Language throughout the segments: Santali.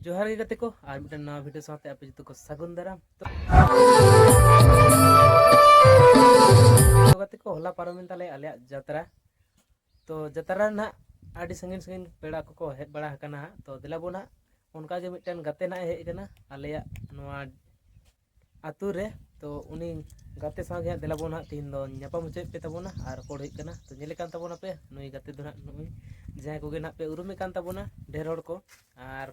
ᱡᱚᱦᱟᱨ ᱜᱮ ᱜᱟᱛᱮ ᱠᱚ ᱟᱨ ᱢᱤᱫᱴᱟᱝ ᱱᱟᱣᱟ ᱵᱷᱤᱰᱤᱭᱳ ᱥᱟᱶᱛᱮ ᱟᱯᱮ ᱡᱚᱛᱚ ᱠᱚ ᱥᱟᱹᱜᱩᱱ ᱫᱟᱨᱟᱢ ᱛᱚ ᱜᱟᱛᱮ ᱠᱚ ᱦᱚᱞᱟ ᱯᱟᱨᱚᱢᱮᱱ ᱛᱟᱞᱮ ᱟᱞᱮᱭᱟᱜ ᱡᱟᱛᱨᱟ ᱛᱚ ᱡᱟᱛᱨᱟ ᱨᱮ ᱱᱟᱦᱟᱜ ᱟᱹᱰᱤ ᱥᱟᱺᱜᱤᱧ ᱥᱟᱺᱜᱤᱧ ᱯᱮᱲᱟ ᱠᱚᱠᱚ ᱦᱮᱡ ᱵᱟᱲᱟ ᱟᱠᱟᱱᱟ ᱦᱟᱸᱜ ᱛᱚ ᱫᱮᱞᱟ ᱵᱚᱱ ᱦᱟᱸᱜ ᱚᱱᱠᱟ ᱜᱮ ᱢᱤᱫᱴᱮᱱ ᱜᱟᱛᱮ ᱱᱟᱦᱟᱜ ᱦᱮᱡ ᱟᱠᱟᱱᱟ ᱟᱞᱮᱭᱟᱜ ᱱᱚᱣᱟ ᱟᱛᱳ ᱨᱮ ᱛᱚ ᱩᱱᱤ ᱜᱟᱛᱮ ᱥᱟᱶ ᱜᱮ ᱦᱟᱸᱜ ᱫᱮᱞᱟ ᱵᱚᱱ ᱦᱟᱸᱜ ᱛᱤᱦᱤᱧ ᱫᱚ ᱧᱟᱯᱟᱢ ᱦᱚᱪᱚᱭᱮᱫ ᱯᱮ ᱛᱟᱵᱚᱱᱟ ᱟᱨ ᱨᱚᱯᱚᱲ ᱦᱩᱭᱩᱜ ᱠᱟᱱᱟ ᱛᱚ ᱧᱮᱞᱮ ᱠᱟᱱ ᱛᱟᱵᱚᱱᱟ ᱯᱮ ᱱᱩᱭ ᱜᱟᱛᱮ ᱫᱚ ᱦᱟᱸᱜ ᱱᱩᱜᱼᱩᱭ ᱡᱟᱦᱟᱸᱭ ᱠᱚᱜᱮ ᱱᱟᱦᱟᱜ ᱯᱮ ᱩᱨᱩᱢᱮ ᱠᱟᱱ ᱛᱟᱵᱚᱱᱟ ᱰᱷᱮᱨ ᱦᱚᱲ ᱠᱚ ᱟᱨ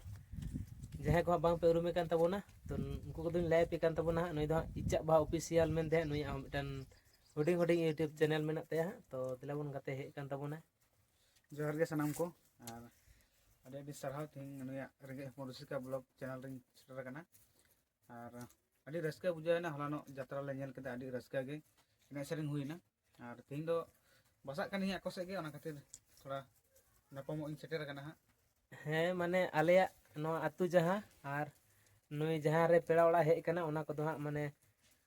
ᱡᱟᱦᱟᱸᱭ ᱠᱚ ᱦᱟᱸᱜ ᱵᱟᱝ ᱯᱮ ᱩᱨᱩᱢᱮ ᱠᱟᱱ ᱛᱟᱵᱚᱱᱟ ᱛᱚ ᱩᱱᱠᱩ ᱠᱚᱫᱚᱧ ᱞᱟᱹᱭ ᱟᱯᱮ ᱠᱟᱱ ᱛᱟᱵᱚᱱᱟ ᱦᱟᱸᱜ ᱱᱩᱭ ᱫᱚ ᱦᱟᱸᱜ ᱤᱪᱟᱜ ᱵᱟᱦᱟ ᱚᱯᱷᱤᱥᱤᱭᱟᱞ ᱢᱮᱱᱛᱮ ᱦᱟᱸᱜ ᱱᱩᱭᱟᱜ ᱦᱚᱸ ᱢᱤᱫᱴᱮᱱ ᱦᱩᱰᱤᱧ ᱦᱩᱰᱤᱧ ᱤᱭᱩᱴᱩᱵᱽ ᱪᱮᱱᱮᱞ ᱢᱮᱱᱟᱜ ᱛᱟᱭᱟ ᱦᱟᱸᱜ ᱛᱚ ᱫᱮᱞᱟ ᱵᱚᱱ ᱜᱟᱛᱮ ᱦᱮᱡ ᱠᱟᱱ ᱛᱟᱵᱚᱱᱟ ᱡᱚᱦᱟᱨ ᱜᱮ ᱥᱟᱱᱟᱢ ᱠᱚ ᱟᱨ ᱟᱹᱰᱤ ᱟᱹᱰᱤ ᱥᱟᱨᱦᱟᱣ ᱛᱮᱦᱮᱧ ᱱᱩᱭᱟᱜ ᱨᱮᱸᱜᱮᱡ ᱦᱚᱯᱚᱱ ᱨᱩᱥᱤᱠᱟ ᱵᱞᱚᱜ ᱪᱮᱱᱮᱞ ᱨᱤᱧ ᱥᱮᱴᱮᱨ ᱟᱠᱟᱱᱟ ᱟᱨ ᱟᱹᱰᱤ ᱨᱟᱹᱥᱠᱟᱹ ᱵᱩᱡᱷᱟᱹᱣᱮᱱᱟ ᱦᱚᱞᱟᱱᱚᱜ ᱡᱟᱛᱨᱟ ᱞᱮ ᱧᱮᱞ ᱠᱮᱫᱟ ᱟᱹᱰᱤ ᱨᱟᱹᱥᱠᱟᱹ ᱜᱮ ᱮᱱᱮᱡ ᱥᱮᱨᱮᱧ ᱦᱩᱭᱱᱟ ᱟᱨ ᱛᱮᱦᱮᱧ ᱫᱚ ᱵᱟᱥᱟᱜ ᱠᱟᱹᱱᱟᱹᱧ ᱟᱠᱚ ᱥᱮᱫ ᱜᱮ ᱚᱱᱟ ᱠᱷᱟᱹᱛᱤᱨ ᱛᱷᱚᱲᱟ ᱱᱟᱯᱟᱢᱚᱜ ᱤᱧ ᱥᱮᱴᱮᱨ ᱟᱠᱟᱱᱟ ᱦᱟᱸᱜ ᱦᱮᱸ ᱢᱟᱱᱮ ᱟᱞᱮᱭᱟᱜ ᱱᱚᱣᱟ ᱟᱹᱛᱩ ᱡᱟᱦᱟᱸ ᱟᱨ ᱱᱩᱭ ᱡᱟᱦᱟᱸ ᱨᱮ ᱯᱮᱲᱟ ᱚᱲᱟᱜ ᱦᱮᱡ ᱟᱠᱟᱱᱟ ᱚᱱᱟ ᱠᱚᱫᱚ ᱦᱟᱸᱜ ᱢᱟᱱᱮ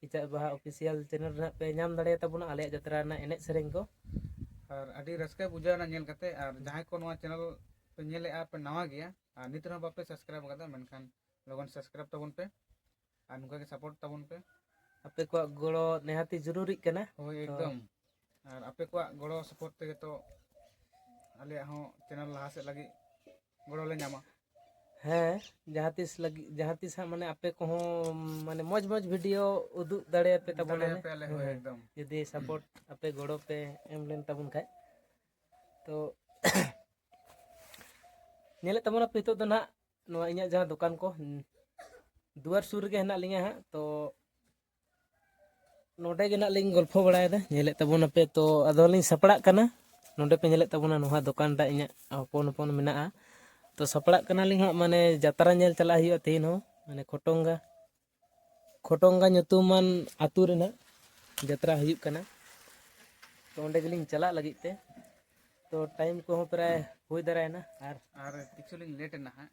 ᱠᱮᱪᱟᱜ ᱵᱟᱦᱟ ᱚᱯᱷᱤᱥᱤᱭᱟᱞ ᱪᱮᱱᱮᱞ ᱨᱮ ᱦᱟᱸᱜ ᱯᱮ ᱧᱟᱢ ᱫᱟᱲᱮᱭᱟ ᱛᱟᱵᱚᱱᱟ ᱟᱞᱮᱭᱟᱜ ᱡᱟᱛᱨᱟ ᱨᱮᱱᱟᱜ ᱮᱱᱮᱡ ᱥᱮᱨᱮᱧ ᱠᱚ ᱟᱨ ᱟᱹᱰᱤ ᱨᱟᱹᱥᱠᱟᱹ ᱵᱩᱡᱷᱟᱹᱣ ᱮᱱᱟ ᱧᱮᱞ ᱠᱟᱛᱮ ᱟᱨ ᱡᱟᱦᱟᱸᱭ ᱠᱚ ᱱᱚᱣᱟ ᱪᱮᱱᱮᱞ ᱯᱮ ᱧᱮᱞᱮᱜᱼᱟ ᱯᱮ ᱱᱟᱣᱟ ᱜᱮᱭᱟ ᱟᱨ ᱱᱤᱛ ᱨᱮᱦᱚᱸ ᱵᱟᱯᱮ ᱥᱟᱵᱥᱠᱨᱟᱭᱤᱵ ᱟᱠᱟᱫᱟ ᱢᱮᱱᱠᱷᱟᱱ ᱞᱚᱜᱚᱱ ᱥᱟᱵᱥᱠᱨᱟᱭᱤᱵ ᱛᱟᱵᱚᱱ ᱯᱮ ᱟᱨ ᱱᱚᱝᱠᱟ ᱜᱮ ᱥᱟᱯᱳᱨᱴ ᱛᱟᱵᱚᱱ ᱯᱮ ᱟᱯᱮ ᱠᱚᱣᱟᱜ ᱜᱚᱲᱚ ᱱᱮᱦᱟᱛᱤ ᱡᱚᱨᱩᱨᱤᱜ ᱠᱟᱱᱟ ᱦᱳᱭ ᱮᱠᱫᱚᱢ ᱟᱨ ᱟᱯᱮ ᱠᱚᱣᱟᱜ ᱜᱚᱲᱚ ᱥᱟᱯᱳᱨᱴ ᱛᱮᱜᱮ ᱛᱚ ᱟᱞᱮᱭᱟᱜ ᱦᱚᱸ ᱪᱮᱱᱮᱞ ᱞᱟᱦᱟ ᱥᱮᱫ ᱞᱟᱹᱜᱤᱫ ᱜᱚᱲᱚ ᱞᱮ ᱧᱟᱢᱟ ᱦᱮᱸ ᱡᱟᱦᱟᱸ ᱛᱤᱥ ᱞᱟᱹᱜᱤᱫ ᱡᱟᱦᱟᱸ ᱛᱤᱥ ᱦᱟᱸᱜ ᱢᱟᱱᱮ ᱟᱯᱮ ᱠᱚᱦᱚᱸ ᱢᱟᱱᱮ ᱢᱚᱡᱽ ᱢᱚᱡᱽ ᱵᱷᱤᱰᱤᱭᱳ ᱩᱫᱩᱜ ᱫᱟᱲᱮᱭᱟᱯᱮ ᱛᱟᱵᱚᱱᱟ ᱫᱟᱲᱮᱭᱟᱯᱮ ᱟᱞᱮ ᱦᱚᱸ ᱦᱮᱸ, ᱮᱠᱫᱚᱢ ᱡᱩᱫᱤ ᱥᱟᱯᱳᱨᱴ ᱟᱯᱮ ᱜᱚᱲᱚ ᱯᱮ ᱮᱢ ᱞᱮᱱ ᱛᱟᱵᱚᱱ ᱠᱷᱟᱡ ᱛᱚ ᱧᱮᱞᱮᱫ ᱛᱟᱵᱚᱱᱟᱯᱮ ᱱᱤᱛᱚᱜ ᱫᱚ ᱱᱟᱦᱟᱜ ᱱᱚᱣᱟ ᱤᱧᱟᱹᱜ ᱡᱟᱦᱟᱸ ᱫᱚᱠᱟᱱ ᱠᱚ ᱫᱩᱣᱟᱹᱨ ᱥᱩᱨ ᱨᱮᱜᱮ ᱦᱮᱱᱟᱜ ᱞᱤᱧᱟᱹ ᱦᱟᱸᱜ ᱛᱚ ᱱᱚᱰᱮ ᱜᱮ ᱱᱟᱜ ᱞᱤᱧ ᱜᱚᱞᱯᱷᱚ ᱵᱟᱲᱟᱭᱮᱫᱟ ᱧᱮᱞᱮᱫ ᱛᱟᱵᱚᱱᱟᱯᱮ ᱛᱚ ᱟᱫᱚᱞᱤᱧ ᱥᱟᱯᱲᱟᱜ ᱠᱟᱱᱟ ᱱᱚᱰᱮ ᱯᱮ ᱧᱮᱞᱮᱫ ᱛᱟᱵᱚᱱᱟ ᱱᱚᱣᱟ ᱫᱚᱠᱟᱱ ᱴᱟᱜ ᱤᱧᱟᱹᱜ ᱦᱚᱯᱚᱱ ᱦᱚᱯᱚᱱ ᱢᱮᱱᱟᱜᱼᱟ ᱛᱚ ᱥᱟᱯᱲᱟᱜ ᱠᱟᱱᱟᱞᱤᱧ ᱦᱟᱸᱜ ᱢᱟᱱᱮ ᱡᱟᱛᱨᱟ ᱧᱮᱞ ᱪᱟᱞᱟᱜ ᱦᱩᱭᱩᱜᱼᱟ ᱛᱮᱦᱮᱧ ᱦᱚᱸ ᱢᱟᱱᱮ ᱠᱷᱚᱴᱚᱝᱜᱟ ᱠᱷᱚᱴᱚᱝᱜᱟ ᱧᱩᱛᱩᱢᱟᱱ ᱟᱛᱳ ᱨᱮᱱᱟᱜ ᱡᱟᱛᱨᱟ ᱦᱩᱭᱩᱜ ᱠᱟᱱᱟ ᱛᱚ ᱚᱸᱰᱮ ᱜᱮᱞᱤᱧ ᱪᱟᱞᱟᱜ ᱞᱟᱹᱜᱤᱫ ᱛᱮ ᱛᱚ ᱴᱟᱭᱤᱢ ᱠᱚᱦᱚᱸ ᱯᱨᱟᱭ ᱦᱩᱭ ᱫᱟᱨᱟᱭᱮᱱᱟ ᱟᱨ ᱟᱨ ᱠᱤᱪᱷᱩ ᱞᱤᱧ ᱞᱮᱴ ᱮᱱᱟ ᱦᱟᱸᱜ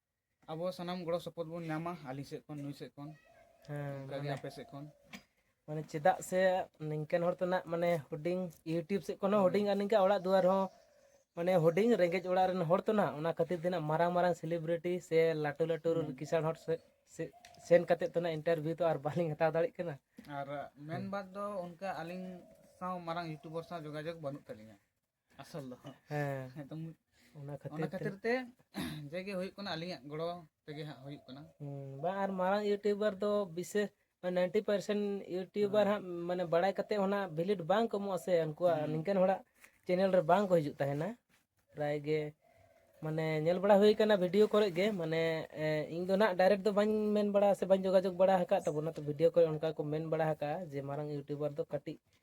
ᱟᱵᱚ ᱥᱟᱱᱟᱢ ᱜᱚᱲᱚ ᱥᱚᱯᱚᱦᱚᱫ ᱵᱚᱱ ᱧᱟᱢᱟ ᱟᱹᱞᱤᱧ ᱥᱮᱫ ᱠᱷᱚᱱ ᱱᱩᱭ ᱥᱮᱫ ᱠᱷᱚᱱ ᱦᱮᱸ ᱚᱱᱠᱟᱜᱮ ᱟᱯᱮ ᱥᱮᱫ ᱠᱷᱚᱱ ᱢᱟᱱᱮ ᱪᱮᱫᱟᱜ ᱥᱮ ᱱᱤᱝᱠᱟᱱ ᱦᱚᱲ ᱛᱚ ᱱᱟᱜ ᱢᱟᱱᱮ ᱦᱩᱰᱤᱧ ᱤᱭᱩᱴᱤᱭᱩᱵᱽ ᱥᱮᱫ ᱠᱷᱚᱱ ᱦᱚᱸ ᱦᱩᱰᱤᱧ ᱟᱨ ᱱᱤᱝᱠᱟ ᱚᱲᱟᱜ ᱫᱩᱣᱟᱹᱨ ᱦᱚᱸ ᱢᱟᱱᱮ ᱦᱩᱰᱤᱧ ᱨᱮᱸᱜᱮᱡ ᱚᱲᱟᱜ ᱨᱮᱱ ᱦᱚᱲ ᱛᱚ ᱱᱟᱜ ᱚᱱᱟ ᱠᱷᱟᱹᱛᱤᱨ ᱛᱮ ᱱᱟᱜ ᱢᱟᱨᱟᱝ ᱢᱟᱨᱟᱝ ᱥᱮᱞᱤᱵᱨᱤᱴᱤ ᱥᱮ ᱞᱟᱹᱴᱩ ᱞᱟᱹᱴᱩ ᱠᱤᱥᱟᱬ ᱦᱚᱲ ᱥᱮ ᱥᱮᱱ ᱠᱟᱛᱮ ᱛᱚ ᱱᱟᱜ ᱤᱱᱴᱟᱨᱵᱷᱤᱭᱩ ᱛᱚ ᱟᱨ ᱵᱟᱹᱞᱤᱧ ᱦᱟᱛᱟᱣ ᱫᱟᱲᱮᱭᱟᱜ ᱠᱟᱱᱟ ᱟᱨ ᱢᱮᱱ ᱵᱟᱫ ᱫᱚ ᱚᱱᱠᱟ ᱟᱹᱞᱤᱧ ᱥᱟᱶ ᱢᱟᱨᱟᱝ ᱤᱭᱩᱴᱩᱵᱟᱨ ᱥᱟᱶ ᱡᱳᱜᱟᱡᱳᱜᱽ ᱵᱟᱹᱱᱩᱜ ᱛᱟᱹᱞᱤᱧᱟ ᱟᱥᱚᱞ ᱫᱚ ᱦᱮᱸ ᱮᱠᱫᱚᱢ ᱚᱱᱟ ᱠᱷᱟᱹᱛᱤᱨ ᱚᱱᱟ ᱠᱷᱟᱹᱛᱤᱨ ᱛᱮ ᱡᱮᱜᱮ ᱦᱩᱭᱩᱜ ᱠᱟᱱᱟ ᱟᱹᱞᱤᱧᱟᱜ ᱜᱚᱲᱚ ᱛᱮᱜᱮ ᱦᱟᱸᱜ ᱦᱩᱭᱩᱜ ᱠᱟᱱᱟ ᱵᱟ ᱟᱨ ᱢᱟᱨᱟᱝ ᱤᱭᱩᱴᱩᱵᱟᱨ ᱫᱚ ᱵᱤᱥᱮᱥ ᱱᱟᱭᱤᱱᱴᱤ ᱯᱟᱨᱥᱮᱱ ᱤᱭᱩᱴᱩᱵᱟᱨ ᱦᱟᱸᱜ ᱢᱟᱱᱮ ᱵᱟᱲᱟᱭ ᱠᱟᱛᱮ ᱦᱚᱸ ᱱᱟᱜ ᱵᱷᱤᱞᱤᱴ ᱵᱟᱝ ᱠᱚᱢᱚᱜᱼᱟ ᱥᱮ ᱩᱱᱠᱩᱣᱟᱜ ᱱᱤᱝᱠᱟᱹᱱ ᱦᱚᱲᱟᱜ ᱪᱮᱱᱮᱞ ᱨᱮ ᱵᱟᱝ ᱠᱚ ᱦᱤᱡᱩᱜ ᱛᱟᱦᱮᱱᱟ ᱯᱨᱟᱭ ᱜᱮ ᱢᱟᱱᱮ ᱧᱮᱞ ᱵᱟᱲᱟ ᱦᱩᱭ ᱠᱟᱱᱟ ᱵᱷᱤᱰᱤᱭᱳ ᱠᱚᱨᱮ ᱜᱮ ᱢᱟᱱᱮ ᱤᱧ ᱫᱚ ᱱᱟᱜ ᱰᱟᱭᱨᱮᱠᱴ ᱫᱚ ᱵᱟᱹᱧ ᱢᱮᱱ ᱵᱟᱲᱟ ᱥᱮ ᱵᱟᱹᱧ ᱡᱳᱜᱟᱡᱳᱜᱽ ᱵᱟᱲᱟ ᱟᱠᱟᱫ ᱛᱟᱵᱚᱱᱟ ᱛᱚ ᱵᱷᱤᱰᱤᱭᱳ ᱠᱚᱨᱮ ᱚᱱᱠᱟ ᱠᱚ ᱢᱮᱱ ᱵᱟᱲᱟ ᱟᱠᱟᱫᱼᱟ ᱡᱮ ᱢᱟᱨᱟᱝ ᱤᱭᱩᱴᱩᱵᱟᱨ ᱫᱚ ᱠᱟᱹᱴᱤᱡ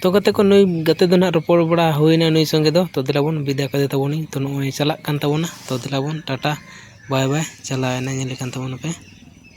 ᱛᱚ ᱜᱟᱛᱮ ᱠᱚ ᱱᱩᱭ ᱜᱟᱛᱮ ᱫᱚ ᱱᱟᱦᱟᱜ ᱨᱚᱯᱚᱲ ᱵᱟᱲᱟ ᱦᱩᱭᱱᱟ ᱱᱩᱭ ᱥᱚᱸᱜᱮ ᱫᱚ ᱛᱚ ᱫᱮᱞᱟ ᱵᱚᱱ ᱵᱤᱫᱟᱹᱭ ᱠᱟᱫᱮ ᱛᱟᱵᱚᱱᱟᱹᱧ ᱛᱚ ᱱᱚᱜᱼᱚᱭ ᱪᱟᱞᱟᱜ ᱠᱟᱱ ᱛᱟᱵᱚᱱᱟ ᱛᱚ ᱫᱮᱞᱟ ᱵᱚᱱ ᱴᱟᱴᱟ ᱵᱟᱭ ᱵᱟᱭ ᱪᱟᱞᱟᱣᱮᱱᱟᱭ ᱧᱮᱞᱮ ᱠᱟᱱ ᱛᱟᱵᱚᱱᱟᱯᱮ